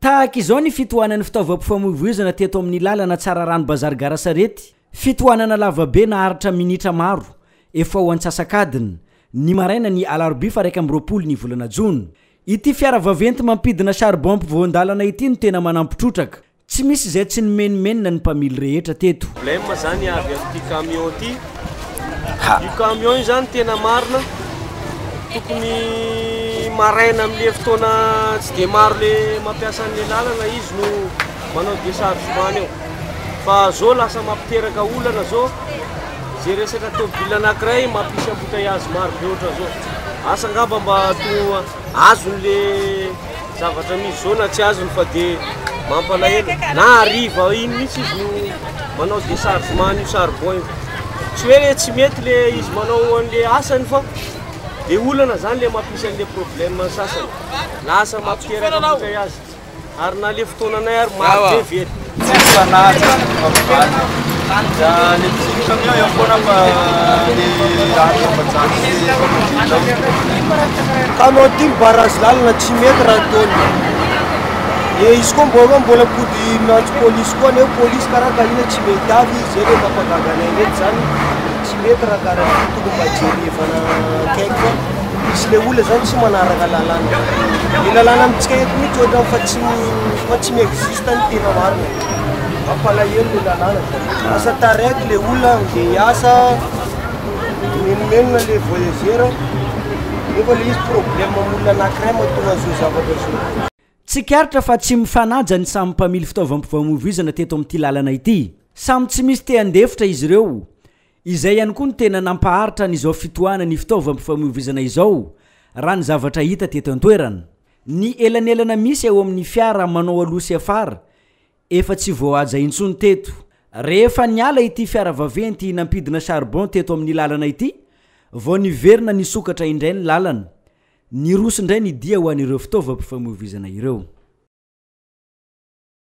Tahaka izao ny fitohanan'ny fitaovam-pifamoivoizana teto amin'ny lalana Tsararano Bazary Gara Sarety, fitohanana lavabe naharitra minitra maro, efa ho antsasak'adiny, ny maraina ny alarobia faraika amby roapolo ny volana jona. Ity fiara vaventy mampidina charbon mpivoan-dalana ity no tena manampi-trotraka, Tsy misy izay tsy nimenomenona ny mpamily rehetra teto. Blem zany avy amty camion ty ha. Io camion io zany tena marina tokony maraina amle fotoana tsy de maro le mampiasa anle lalana izy no manao dechargement eo fa zo lasa mampiteraka olana zo ze resaka tobile anakiray mampisy embouteillage maro be otrany zo asa ngamba mba to azony le zavatra misy zao na tsy azony fa de mampalahelo na hariva iny mihitsy izy no manao déchargement an'io charbon io tsy hoe le tsy mety le izy manao an'le asany fa de olana zany le mampisy an'le problème sasany lasa mampiteraka vokay azy Ary na le fotoananay ary maro be ve ry. Tsisy fanahy, tsisy fivavahana. Dia le mpisolo camion eo foana fa le lalana fa tsy azo. Ka anao ty mi-barrage lalana tsy mety raha ataony. Dia izy koa mbô mbola mipody miantso polisy koa neo polisy karaha ka inona tsy mety avy izay le mampagaga anay ndraiky zany. Tsy mety raha kara an'ity tokony mba jerevana akaiky fa misy ilay olona zany tsy manaraka lalàna. Ny lalàna amintsika eto mihitsy ohatrany fa tsy fa tsy mi-existe ny tena marina. Mampalahelo ilay lalàna fa lasa taraiky ilay olona andeha hiasa, mimenomenona ilay voyageur nefa ilay izy problème amin'olona anankiray mahatonga an'izao zavatra izao. Tsikaritra fa tsy mifanaja ny samy mpamily fitaovam-pifamoivoizana teto amin'ity lalana ity. Samy tsy misy te handefitra izy ireo. Izay ihany koa no tena nampaharitra an'izao fitohanana ny fitaovam-pifamoivoizana izao, raha ny zavatra hita teto an-toerana. Ny elanelana misy eo amin'ny fiara manao aloha sy afara, efa tsy voahaja intsony teto. Rehefa niala ity fiara vaventy nampidina charbon teto amin'ny lalana ity, vao niverina nisokatra indray ny lalana. Niroso indray ny dia ho an'ireo fitaovam-pifamoivoizana ireo.